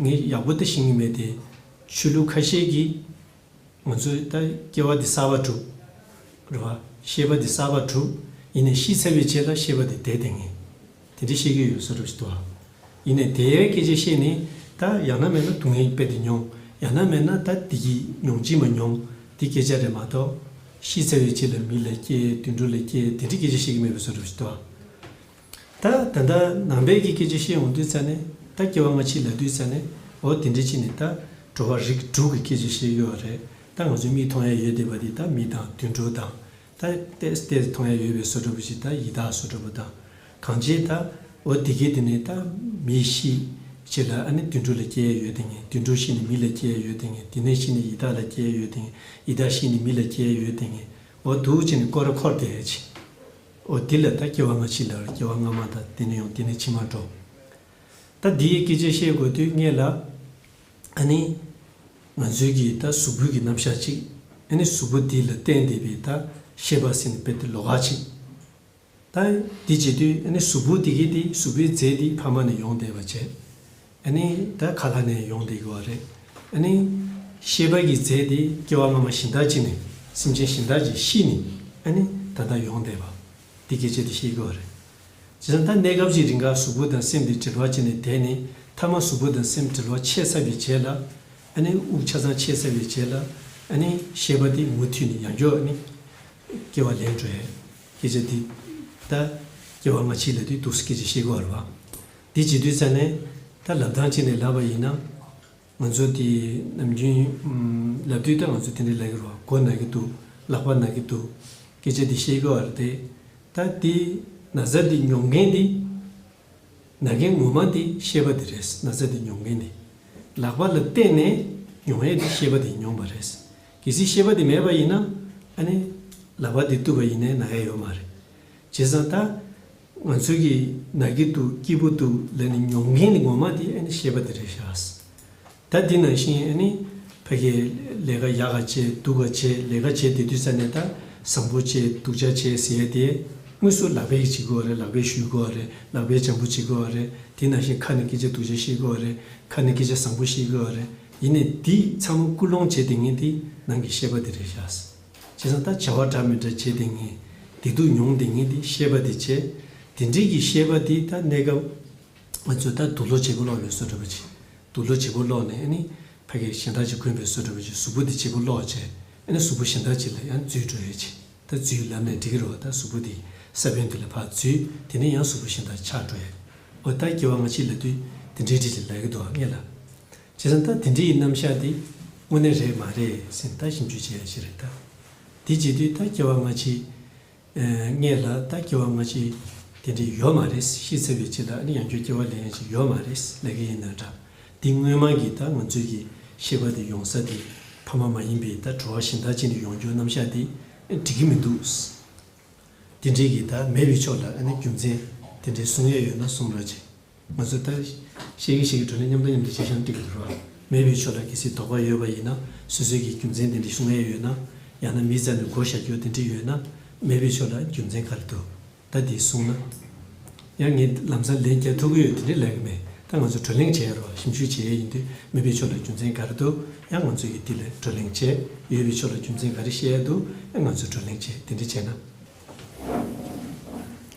ངས་ཡག་པོ་ལྟ་ཤེས་ཀྱི་མེད་དེ། ཆོས་ལུགས་ཁ་ཤས་ཀྱིས་ང་ཚོས་ལྟ་སྐྱེ་བ་འདི་གསར་བར་གྲུབ། རེད་བ། ཤེས་པ་འདི་གསར་བར་གྲུབ། ཡིན་ནས་ཤི་ཚར་བའི་རྗེས་ལ་ཤེས་པ་འདི་དེ་དེ་ངེས། དེ་འདྲས་ཤེས་ཀྱི་ཡོད་བསོད་རབས་ཞིག་འདུག་ཨ། ཡིན་ནས་དེའི་སྐད་ཆའི་ཤེས་ནི། ད་ཡག་ན་མེད་ན་སྡུག་བསྔལ་གྱི་དཔེ་འདི་མྱོང། ཡག་ན་མེད་ན་ད་འདི་གྱིས་མྱོང་གཅིག་མ་མྱོང། འདི་སྐད་ཆ་རེད་མ་གཏོགས། ཤི་ཚར་བའི་རྗེས་ལ་མི་ལ་སྐྱེ། དུད་འགྲོ་ལ་སྐྱེ་དེ་འདྲས་སྐད་ཆ་ཤེས་ཀྱི་མེད་བསོད་རབས་ཞིག་འདུག་ཨ། ད་ད་ལྟ་ནང་པའི་གི་སྐད་ཆ་བཤད་འོང་དུས་ཙཱ་ནི་ད་སྐྱེ་བ་སྔ་ཕྱི་ལ་དུས་ཙཱ་ནི་འོ་དེ་འདྲི་ཅི་ནི་ད་འགྲོ་བ་རིགས་དྲུག་གི་སྐད་ཆ་བཤད་ཡོད་བ་རེད་ད་ང་ཚོ་མིག་མཐོང་ཡ་ཡོད་དེ་བ་དེ་ད་མི་དང་དུད་འགྲོ་དང་ད་ལྟས་ལྟས་མཐོང་ཡ་ཡོད་པའི་བཟོ་འདྲ་པོ་ཞིག་ད་ཡི་དྭགས་བཟོ་འདྲ་པོ་དང་གང་བྱེད་ད་འོ་དེ་གི་དེ་ནི་ད་མི་ཤི་ཤི་ལ་ཨ་ནི་དུད་འགྲོ་ལ་སྐྱེ་ཡ་ཡོད་དེ་ངས་དུད་འགྲོ་ཤི་ནི་མི་ལ་སྐྱེ་ཡ་ཡོད་དེ་ངས་དེ་ནས་ཤི་ནི་ཡི་དྭགས་ལ་སྐྱེ་ཡ་ཡོད་དེ་ངས་ཡི་དྭགས་ཤི་ནི་མི་ལ་སྐྱེ་ཡ་ཡོད་དེ་ངས་འོ་དུ་ཅི་ནི་ཀོ་ར་འཁོར་དེ་ཧེ་ཅི། འོ་དེ་ལས་ད་སྐྱེ་བ་སྔ་ཕྱི་འདྲ་བར་སྐྱེ་བ་སྔ་མ་དང་དེ་ནས་ཡང་དེ་ནས་ཕྱི་མར་འགྲོ། ད་འདི་ཡི་སྐད་ཆ་བཤད་དགོས་དུས་ངེད་ལ། ཨ་ནི། ང་ཚོའི་གི་ད་གཟུགས་པོའི་གི་རྣམ་གཞག་ཅིག་ཨ་ནི་གཟུགས་པོ་འདི་ལ་བརྟེན་ཏེ་པའི་ད་ཤེས་པ་ཟིན་པའི་ཏེ་ལོག་ཅིག། ད་འདི་བྱེད་དུས་ཨ་ནི་གཟུགས་པོ་དེ་གི་དེ་གཟུགས་པོའི་རྫས་འདི་ཕ་མ་ནས་ཡོང་བསྡད་པ་བྱས། ཨ་ནི་ད་ག་ལ་ནས་ཡོང་བསྡད་དགོས་བ་རེད་ཨ་ནི། ཤེས་པ་ཀྱི་རྫས་དེ་སྐྱེ་བ་སྔ་མ་བཞིན་དག་ཅིག་ནས་སེམས་ཅན་བཞིན་དག་ཅིག་ཤི་ནས་ཨ་ནི་ད་ལྟ་ཡོང་བསྡད་པ། འདི་སྐད་ཅེས་དེ་ཤེས་དགོས་བ་རེད། ཇི་ཙམ་ད་གནས་སྐབས་ཀྱི་རིང་ག་གཟུགས་པོ་དང་སེམས་དེ་དྲིལ་བ་བྱས་ནས་དེ་ནས་ཐ་མ་གཟུགས་པོ་དང་སེམས་དྲིལ་བ་ཆད་ཚར་བའི་རྗེས་ལ་ཨ་ནི་དབུགས་ཆ་ཚང་ཆད་ཚར་བའི་རྗེས་ལ་ཨ་ནི་ཤེས་པ་དེ་མུ་མཐུད་ནས་ཡང་སྐྱོ་ཨ་ནི་སྐྱེ་བ་ལེན་འགྲོ་ཡ། སྐད་ཅེས་དེ་ད་སྐྱེ་བ་སྔ་ཕྱིའི་ལས་དུས་དུག་སེལ་སྐད་ཅེས་ཤེས་དགོས་བ་རེད་བ། དེ་བྱེད་དུས་ས་ནས་ད་ལབ་སྟངས་བྱས་ནས་ལབ་པ་ཡིན་ན། ང་ཚོ་དེ་ནམ་རྒྱུན་ལབ་དུས་ད་ང་ཚོ་དེ་འདྲ་ལབ་ཀྱི་རོགས་མགོ་ན་གི་འདུག་ལག་པ་ན་གི་འདུག་སྐད་ཆ་འདི་བཤད་དགོས་བ་རེད་དེ། ད་དེ་ན་ཚ་འདི་མྱོང་མཁན་འདི། ན་མཁན་ངོ་མ་འདི་ཤེས་པ་འདི་རེད་ན་ཚ་འདི་མྱོང་མཁན་འདི། ལག་པ་ལ་བརྟེན་ནས་མྱོང་ཡས་འདི་ཤེས་པ་འདི་མྱོང་བ་རེད། གལ་སྲིད་ཤེས་པ་འདི་མེད་པ་ཡིན་ན་ཨ་ནི་ལག་པ་འདི་བཏུབ་པ་ཡིན་ནས་ན་ཡས་ཡོད་མ་རེད། བྱས་ཙང་ད་ང་ཚོས་ཀྱི་ན་གི་འདུག་སྐྱིད་པོ་འདུག་ལ་ནི་མྱོང་མཁན་ནི་ངོ་མ་དེ་ཨ་ནི་ཤེས་པ་དེ་རེད་ཤགས། ད་འདི་ནང་བཞིན་ཨ་ནི་ཕ་གི་ལས་ཀ་ཡག་ག་བྱས་སྡུག་ག་བྱས་ལས་ཀ་བྱས་དེ་དུས་ས་ནས་ད་བཟང་པོ་བྱས་སྡུག་ཅག་བྱས་ཟེར་ཡས་དེ་དངོས་སུ་ལག་པས་ཡིག་བྱེད་དགོས་བ་རེད་ལག་པས་བཤུས་དགོས་བ་རེད་ལག་པས་བྱམས་པོ་བྱེད་དགོས་བ་རེད་དེ་ནང་བཞིན་ཁ་ནས་སྐད་ཆ་སྡུག་ཅག་བཤད་དགོས་བ་རེད་ཁ་ནས་སྐད་ཆ་བཟང་པོ་བཤད་དགོས་བ་རེད་ཡིན་ནས་འདི་ཚང་མ་ཀུན་སློང་བྱས་དེ་ངས་འདི་ནང་གི་ཤེས་པ་དེ་རེད་ཤགས། བྱས་ཙང་ད་བྱ་བ་འདྲ་མི་འདྲ་བྱས་དེ་ངས་བདེ་སྡུག་མྱོང་དེ་ངས་དེ་ཤེས་པ་དེ་བྱས། དེ་འདྲིས་ཀྱི་ཤེས་པ་དེ་ད་གནས་སྐབས་ང་ཚོས་ད་སྡུག་ལོག་བྱེད་པོ་ལོག་ནས་བསོད་བསྒྲུབ་པ་བྱེད། སྡུག་ལོག་བྱེད་པོ་ལོག་ནས་ཨ་ནི་ཕ་གིར་གཞན་དག་ཅིག་དགོན་པའི་བསོད་བསྒྲུབ་པ་བྱེད་གཟུགས་པོ་དེ་བྱེད་པོ་ལོག་བྱས། ཨ་ནི་གཟུགས་པོ་གཞན་དག་ཅིག་ལ་ཡང་རྫུས་འགྲོ་ཡས་བྱས། ད་རྫུས་ལབ་ནས་འགྲིག་གི་རོགས་ད་གཟུགས་པོ་དེ་ས་བོན་དེ་ལ་ཕར་རྫུས་དེ་ནས་ཡང་གཟུགས་པོ་གཞན་དག་ཆགས་འགྲོ་ཡས། འོ་ད་སྐྱེ་བ་སྔ་ཕྱི་ལ་དུས་དེ་འདྲའི་འགྲིག་ཅིག་ལབ་ཀྱི་འདུག་ཨ་ངས་ལབ། བྱས་ཙང་ད་དེ་འདྲི་ཡི་རྣམ་བཞག་འདི་དངོས་གནས་རེད་མ་རེད་སེམས་ལྟ་ཞིབ་འཇུག་བྱས་ཡ་ཞིག་རེད་ད། འདི་བྱེད་དུས་ད་སྐྱེ་བ་སྔ་ཕྱི། ངས་ལ་ད་སྐྱེ་བ་སྔ་ཕྱི་དེ་འདྲི་ཡོད་མ་རེད་ཤི་ཚེ་བའི་ཕྱི་ལ་ཡང་ཁྱོད་སྐྱེ་བ་ལེན་ཡ་ཞིག་ཡོད་མ་རེད་ལས་ཀ་ཡིན་ན་འདྲ། འདི་དངོས་མང་གི་ད་ང་ཚོས་ཀྱི་ཤེས་པ་དེ་ཡོང་ས་དེ་ཕ་མ་མ་ཡིན་པའི་ད་བྲོ་བ་ཞིང་དག་ཅིག་ནས་ཡོང་རྒྱུ་རྣམ་བཞག་འདི་འགྲིག་གི་མི་འདུག། འདི་འདྲི་གི་ད་མེད་པའི་ཕྱོགས་ལ་རྒྱུ་མཚན་དེ་འདྲི་གསུང་ཡ་ཡོད་ན་གསུང་རོགས་བྱེད། ང་ཚོས་ལྟ་ཤེས་ཀྱིས་ཤེས་ཀྱི་ཁྲོད་ནས་མཉམ་དང་མཉམ་དུ་སྤྱི་བྱང་བཀྲི་དགོས་རུང། མེད་པའི་ཕྱོགས་དག་གི་སི་དོགས་པ་ཡོད་པ་ཡིན་ན་སོ་སོའི་གི་རྒྱུ་མཚན་དེ་འདྲི་ཤུ་ངེས་ཡོད་ན། ཡང་ན་མིས་བཙལ་ནས་བགོ་བཤའ་རྒྱུ་དེ་འདྲི་ཡོད་ན། མེད་པའི་ཕྱོགས་དག་རྒྱུ་མཚན་ག་རེ་འདུག་ད་འདི་གསུང་ན། ཡང་ངས་ལམ་སང་ལན་བརྒྱ་ཐུག་གི་ཡོད་དེ་འདྲི་ལེགས་ཀྱི་མེད་ད་ང་ཚོས་བགྲོ་གླེང་བྱེད་ཡ་རུང་ཞིབ་འཇུག་བྱེད་ཡ་ཡིན་དུས་མེད་པའི་ཕྱོགས་དག་རྒྱུ་མཚན་ག་རེ་འདུག་ཡང་ང་ཚོས་ཀྱི་འདི་ལ་བགྲོ་གླེང་བྱེད་ཡོད་པའི་ཕྱོགས་དག་རྒྱུ་མཚན་ག་རེ་བཤད་ཡ་འདུག་ཡང་ང་ཚོས་བགྲོ་གླེང་བྱེད་དེ་འདྲི་བྱེད་ན།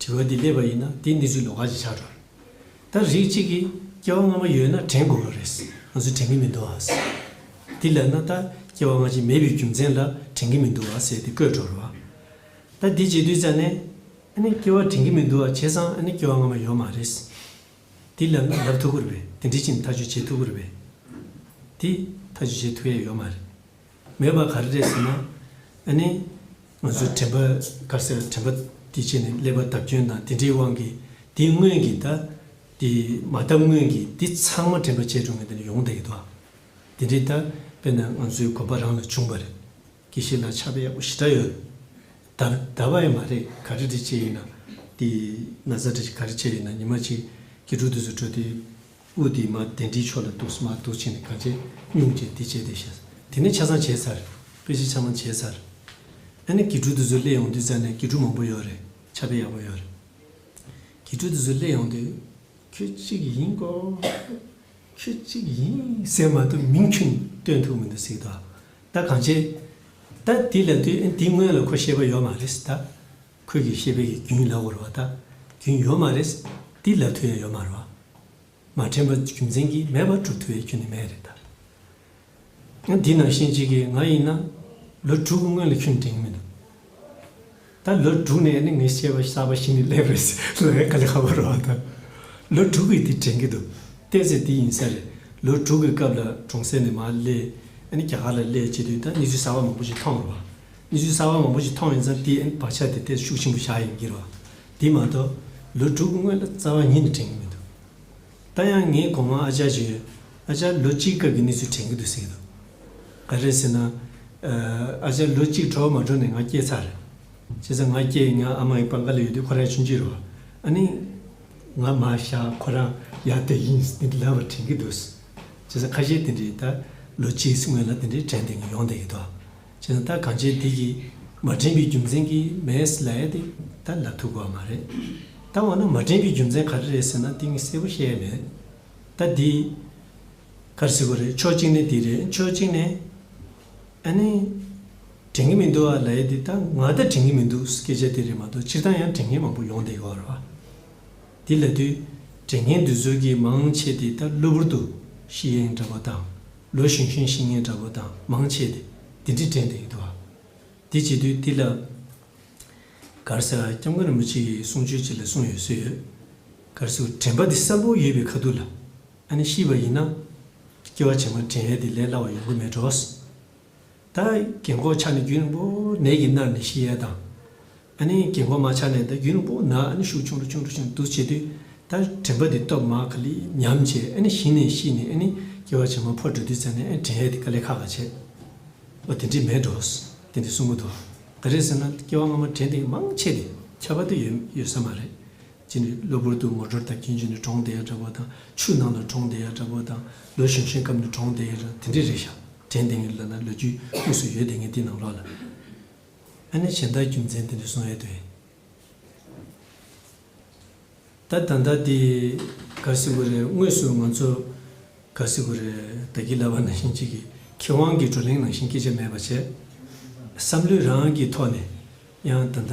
དྲི་བ་འདི་སླེབས་པ་ཡིན་ན་དེ་ནི་ཚོའི་ལོ་ཁ་ཅིག་ཆགས་འགྲོ་རེད། ད་རིགས་གཅིག་གིས་སྐྱེ་བ་སྔ་མ་ཡོད་ན་དྲན་དགོས་པ་རེད། ང་ཚོས་དྲན་གྱི་མི་འདུག་ཨང་ཟེར། དེ་ལས་ན་ད་སྐྱེ་བ་སྔ་ཕྱི་མེད་པའི་རྒྱུ་མཚན་ལ་དྲན་གྱི་མི་འདུག་ཨང་ཟེར་ཏེ་བཀོད་འགྲོ་རུང། ད་འདི་བྱེད་དུས་ཙང་ནས། ཨ་ནི་སྐྱེ་བ་དྲན་གྱི་མི་འདུག་ཨ་བྱས་ཙང་ཨ་ནི་སྐྱེ་བ་སྔ་མ་ཡོད་མ་རེད། དེ་ལབ་ན་ལབ་ཐུབ་ཀི་རེད་དེ་འདྲི་ཕྱིན་ཐག་གཅོད་བྱེད་ཐུབ་ཀི་རེད། དེ་ཐག་གཅོད་བྱེད་ཐུབ་ཡ་ཡོད་མ་རེད། མེད་པ་ག་རེ་རེད་ཟེར་ན། ཨ་ནི། ང་ཚོའི་དྲན་པ་དཀར་སེར་དྲན་པ་དེ་བྱས་ནས་སླེབས་པ་བརྡབ་སྐྱོན་དང་དེ་འདྲའི་དབང་གིས་དེ་སྔོན་གྱི་ད། དེ་མ་བརྡབ་སྔོན་གྱི་དེ་ཚང་མ་དྲན་པ་བྱས་འགྲོ་ངེས་དེ་ནི་ཡོང་བསྡད་ཡོད་དོ། དེ་འདྲའི་ད་དཔེར་ན་ང་ཚོའི་གོམ་པ་རང་ལ་བྱུང་བ་རེད། ཀྱི་ཤེས་ལ་ཆགས་པ་ཡག་པོ་ཞེ་དྲག་ཡོད། ད་ད་བ་ཡི་མ་རེད་ག་རེ་རེ་བྱས་ཡིན་ན་དེ་ན་ཚ་དྲི་ག་རེ་བྱས་ཡིན་ན་ཉི་མ་གཅིག་གི་འགྲོ་དུས་སུ་འགྲོ་དེ། དབུ་དེ་མ་དེ་འདྲིའི་ཕྱོགས་ལ་འདུག་མ་འདུག་བྱས་ནས་ག་བྱེད་སྙུང་བྱས་འདི་བྱས་དེ་བྱས། དེ་ནས་ཆ་ཚང་བྱས་ཚར། དཔེ་གཞི་ཆ་མང་བྱས་ཚར། ཨ་ནི་གི་ཕྲུག་དེ་ཚོའི་སླད་ཡོང་དུས་རྩ་ནས་གི་ཕྲུག་མང་པོ་ཡོད་རེད་ཆ་དཔེ་ཡག་པོ་ཡོད་རེད། གི་ཕྲུག་དེ་ཚོའི་སླད་ཡོང་དུས། ཁྱོད་གཅིག་ཡིན་སྐོ། ཁྱོད་གཅིག་ཡིན་ཟེར་མ་ཐུབ་མིང་ཁྱོད་གཉིས་སྟོན་ཐུབ་མི་འདུག་ཟིག་ད། ད་གང་བྱེད། ད་དེ་ལ་དུས་ཨ་ནི་དེ་སྔོན་ལ་ཁོ་ཤེས་པ་ཡོད་མ་རེད་ཟིག་ད། ཁོད་ཀྱི་ཤེས་པའི་ཀྱི་གྱུན་ལ་བོར་བ་དག་གྱུན་ཡོད་མ་རེད། ཏི་ལབ་ཐུ་ཡང་ཡོད་མ་རེད། མ་དྲན་པ་རྒྱུ་མཚན་གྱིས་མེད་པར་གྲུབ་ཐུ་བའི་ཀྱུན་ནི་མེད་རེད་ད། ཡང་འདི་ནང་བཞིན་གཅིག་གི་ང་ཡིན་ན། ལོ་དྲུག་གི་སྔོན་ལ་ཁྱོད་དྲན་གི་མི་འདུག་ད། ལོ་དྲུག་ནས་ནི་ངས་བཤད་པ་གསར་པ་ཞིག་ནི་སླེབས་རེད་ཟེར་ལོ་ཡང་ག་ལེ་ཧ་བོར་བ་དང། ལོ་དྲུག་གི་དེ་དྲན་གི་འདུག་བལྟས་ཚེ་དེ་ཡིན་ས་རེད། ལོ་དྲུག་གི་སྐབས་ལ་གྲོང་གསེབ་ནས་མར་སླེབས། རྒྱ་གར་ལ་སླེབས་བྱས་དུས་ད་གནས་ཚུལ་གསར་པ་མང་པོ་ཞིག་མཐོང་བར་བ། གནས་ཚུལ་གསར་བ་མང་པོ་ཞིག་མཐོང་ཡོད་ཙང་དེའི་བག་ཆགས་དེ་དེར་ཤུགས་ཆེན་པོ་བཞག་ཡོད་འགྱུར་བ་དེ་མ་གཏོགས་ལོ་དྲུག་སྔོན་ལ་རྩ་བ་ཉིད་ནས་དྲན་གྱི་མི་འདུག་ད་ཡང་ངས་གོང་མ་ཨ་ཅག་བརྗོད་ཡོད་ཨ་ཅག་ལོ་གཅིག་སྐབས་ཀྱི་གནས་ཚུལ་དྲན་གྱི་འདུག་ཟེར་གྱི་འདུག་ག་རེད་ཟེར་ན། ཨ་ཅག་ལོ་གཅིག་གྲོ་བ་མ་གྲོལ་ནས་ང་སྐྱེས་ཚར་རེད། བྱས་ཙང་ང་སྐྱེས་ང་ཨ་མ་ཡི་པང་ཁ་ལ་ཡོད་དུས་ཁོ་རང་ཆུང་འགྱུར་བ་ཨ་ནི། ང་མ་བཞག་ཁོ་རང་ཡར་སྡོད་ཀྱི་ཡིན་ཟེར་གྱི་ལབ་པ་དྲན་གྱི་འདུག་བྱས་ཙང་ཁ་ཤས་དེ་འདྲའི་ད་ལོ་གཅིག་སྔོན་ལ་དེ་འདྲའི་དྲན་ཐེངས་ཡོང་བསྡད་ཡོད་དོ། བྱས་ན་ད་གང་བྱས་དེ་ཀྱིས་མ་དྲན་པའི་རྒྱུ་མཚན་གྱིས་མེད་ལ་ཨེ་དེ་ད་ལ་ཐུག་པ་མ་རེད། ད་འོ་ན་མ་དྲན་པའི་རྒྱུ་མཚན་ག་རེ་རེད་ཟེར་ན་དེ་ངས་གསལ་པོ་བཤད་ཡ་མེད། ད་དེ་ག་རེ་ཟེར་བ་རེད་ཕྱོགས་གཅིག་ནས་དེ་རེད་ཕྱོགས་གཅིག་ནས་ཨ་ནི་དྲན་གྱི་མི་འདུག་ཨ་ལ་ཨེ་དེ་ད་ང་ད་དྲན་གྱི་མི་འདུག་སྐད་ཆ་དེ་རེད་མ་གཏོགས་སྤྱིར་བཏང་ཡང་དྲན་མཁན་མང་པོ་ཡོང་བསྡད་ཡོད་རེད། དེ་ལ་དུས་དྲན་མཁན་དུས་ཚོད་ཀྱིས་མང་ཆེ་དེ་ད་གློ་བུར་དུ་ཤི་ཡེངས་འདྲ་པོ་དང། ལོ་ཞུན་ཞུན་ཤིང་ངན་འདྲ་བོ་དང་མང་ཆེ་སྟེ་འདི་འདྲས་དྲན་དུ་ཡོད་དོ། དེ་བྱེད་དུས་འདི་ལ། གར་སོགས་སྐྱབས་མགོན་རིན་པོ་ཆེ་ཡིས་གསུང་ཆོས་བྱེད་ལ་གསུངས་ཡོད་སྲོལ་ཡོད། གར་སོགས་དྲན་པ་འདི་སྲབ་པོ་ཡོད་པའི་ཁ་ཐུག་ལ། ཨ་ནི་ཤི་བ་ཡིན་ན། སྐྱེ་བ་བྱེ་མ་དྲན་ཡས་དེ་ལས་སླ་བ་ཡོང་གི་མེད་འགྲོ། ད་གིན་གོ་ཆ་ནས་རྒྱུན་རིང་པོ་ནས་ཀྱི་སྣར་ནས་ཤི་ཡལ་དང། ཨ་ནི་གིན་གོ་མ་ཆ་ནས་ད་རྒྱུན་རིང་པོ་ན་ཨ་ནི་ཤུགས་ཆུང་རུ་ཆུང་རུ་ཆུང་དུ་བྱེད་དུས་ད་དྲན་པ་དེ་སྟོབས་མ་ག་ལི་ཉམས་བྱས་ཨ་ནི་ཤི་ནས་ཤི་ནས་ཨ་ནི་སྐྱེ་བ་ཆེན་མོ་ཕོ་འགྲོ་དུས་ཚེ་ནས་ཨ་ནི་དྲན་ཡས་དེ་ག་ལེ་ཁ་ཁ་བྱེད། ཨོ་དེ་འདྲི་མེད་འགྲོ། དེ་འདྲི་གསུངས་མོ་འདུག་ག་རེ་ཟེར་ན་སྐྱེ་བ་སྔ་མ་དྲན་དེ་མང་ཆེ་དེ་ཁྱད་པར་དུ་ཡོད་ཡོད་ས་མ་རེད། གཅིག་ནི་གློ་བུར་དུ་ངོ་སྦྱོར་དང་རྐྱེན་བྱུང་ནས་གྲོང་བརྡལ་འདྲ་བོ་དང་ཆུ་ནང་ལ་གྲོང་བརྡལ་འདྲ་བོ་དང་ལོ་གཞོན་ཤིང་སྐམ་ནས་གྲོང་བརྡལ་ར་དེ་འདྲས་རེད་ཞག་དྲན་དེ་ངས་ལོས་ན་ལོ་རྒྱུས་དབུས་སུ་ཡོད་དེ་ངས་འདི་ནང་ལོག་ལ་ཨ་ནི་བྱས་ད་རྒྱུ་མཚན་དེ་འདྲས་སོང་ཨེ་དོན་ད་ད་ད་འདི་ག་སི་གུ་རེད་དངོས་སུ་ང་ཚོ་ག་སི་གུ་རེད་ད་གི་ལ་བ་ནང་བཞིན་གཅིག་གི་ཁེ་དབང་གི་བགྲོ་གླེང་ནང་བཞིན་སྐད་ཆ་མེད་པ་བྱས་བསམ་བློའི་རང་གི་ཐོག་ནས་ཡང་ད་ད།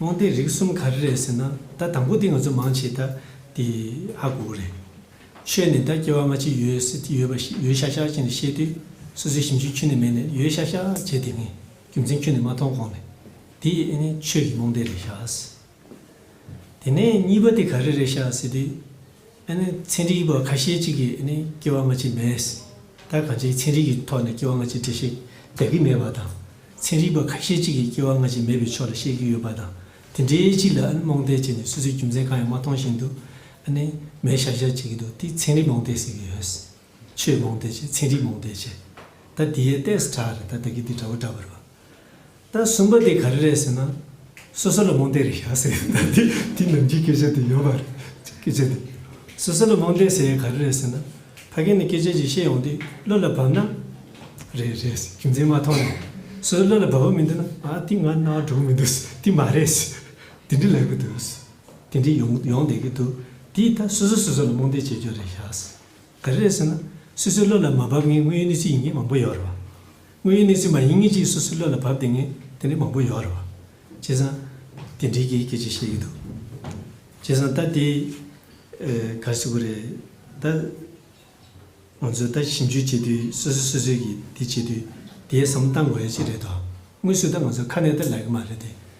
དབང་ལྡན་རིགས་གསུམ་ག་རེ་རེད་ཟེར་ན་ད་དང་པོ་དེ་ང་ཚོ་མང་ཆེ་ད་དེ་ཧ་གོ་གོ་རེད། ཤོད་ནས་ད་སྐྱེ་བ་སྔ་ཕྱི་ཡོད་སྲིད་དེ་ཡོད་པ་ཞིག་ཡོད་ཤག་ཤག་བྱས་ནས་བཤད་དུས་སོ་སོའི་ཞིབ་འཇུག་ཁྱོན་ནས་མེད་ནས་ཡོད་ཤག་ཤག་བྱས་དེ་ངས་རྒྱུ་མཚན་ཁྱོན་ནས་མ་མཐོང་གོང་ནས་དེ་ཨེ་ནི་ཆོས་ཀྱི་རྨོངས་དད་རེད་ཤག། དེ་ནས་གཉིས་པ་དེ་ག་རེ་རེད་ཤག་ཟེར་དུས། ཚན་རིག་པ་ཁ་ཤས་ཅིག་གིས་སྐྱེ་བ་སྔ་ཕྱི་མེད། ད་གང་ཅིའི་ཚན་རིག་གི་ཐོག་ནས་སྐྱེ་བ་སྔ་ཕྱི་འགྲེལ་བཤད་རྒྱག་གི་མེད་པ་དང། ཚན་རིག་པ་ཁ་ཤས་ཅིག་གིས་སྐྱེ་བ་སྔ་ཕྱི་མེད་པའི་ཕྱོགས་ལ་བཤད་ཀྱི་ཡོད་པ་དང་དེ་འདྲའི་ཅིག་ལ་རྨོངས་དད་བྱས་ནས་སོ་སོའི་རྒྱུ་མཚན་གང་ཡང་མ་མཐོང་བཞིན་དུ། མེད་ཤག་ཤག་བྱེད་ཀྱི་འདུག་དེ་ཚན་རིག་རྨོངས་དད་ཟེར་གྱི་ཡོད། ཆོས་རྨོངས་དད་བྱས་ཚན་རིག་རྨོངས་དད་བྱས། ད་དེའི་གཏད་ས་གྲགས་རེད་ད་ད་གི་འདི་འདྲ་བོ་འདྲ་བར། ད་གསུམ་པ་དེ་ག་རེ་རེད་ཟེར་ན། སོ་སོ་ལ་རྨོངས་དད་རེད་ཤག་ཟེར་ཡོད་ད་དེ་དེ་ནང་གི་སྐད་ཆ་དེ་ཡོད་པ་རེད་སྐད་ཆ་དེ། སོ་སོ་ལ་རྨོངས་དད་ཟེར་ཡས་ག་རེ་རེད་ཟེར་ན། ཕ་གི་ནས་སྐད་ཆ་ཅིག་ཤེས་ཡོང་དུས་བློ་ལ་བབས་ན། རེད་རེད་ཟེར་རྒྱུ་མཚན་མ་མཐོང་ནས། སོ་སོ་བློ་ལ་བབས་པ་མི་འདུག་ན་ཨ་དེ་ང་རྣ་བར་འགྲོ་གི་མི་འདུག་ཟེར་དེ་མ་རེད་ཟེར། དེ་འདྲ་ལབ་ཀྱི་འདུག་ཟེར། དེ་འདྲ་ཡོང་ཡོང་བསྡད་ཀྱི་འདུག་དེས་ད་སོ་སོ་སོ་སོ་ལ་རྨོངས་དད་བྱེད་རྒྱུ་རེད་ཤག་ཟེར། ག་རེ་རེད་ཟེར་ན། སོ་སོའི་བློ་ལ་མ་བབས་ངེས་དངོས་ཡོད་གནས་ཚུལ་ཡིན་ངེས་མང་པོ་ཡོད་རེད་བ། དངོས་ཡོད་གནས་ཚུལ་མ་ཡིན་ངེས་ཅིག་སོ་སོའི་བློ་ལ་བབས་ཏེ་ངེས་དེ་འདྲའི་མང་པོ་ཡོད་རེད་བ། བྱས་ཙང། དེ་འདྲའི་གི་སྐད་ཆ་བཤད་ཀྱི་འདུག། བྱས་ཙང་ད་དེ། ག་རེ་བྱེད་དགོས་རེད། ད། ང་ཚོས་ད་ཞིབ་འཇུག་བྱེད་དུས་སོ་སོས་སོ་སོའི་གི་དེ་བྱེད་དུས་དེའི་བསམ་བློ་བཏང་དགོས་ཡོད་ཅིག་རེད་དོ། དངོས་སུ་ད་ང་ཚོ་ཁ་ནས་ད་ལབ་གི་མ་རེད་དེ།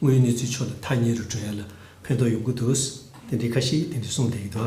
དངོས་ཡོད་གནས་ཚུལ་ཕྱོགས་དང་ཐག་ཉེ་རུ་བགྲོད་ཡ་ལ་ཕན་ཐོགས་ཡོང་གི་འདུག་དེ་འདྲའི་ཁ་ཞིག་དེ་འདྲས་གསུངས་བསྡད་ཡོད་དོ།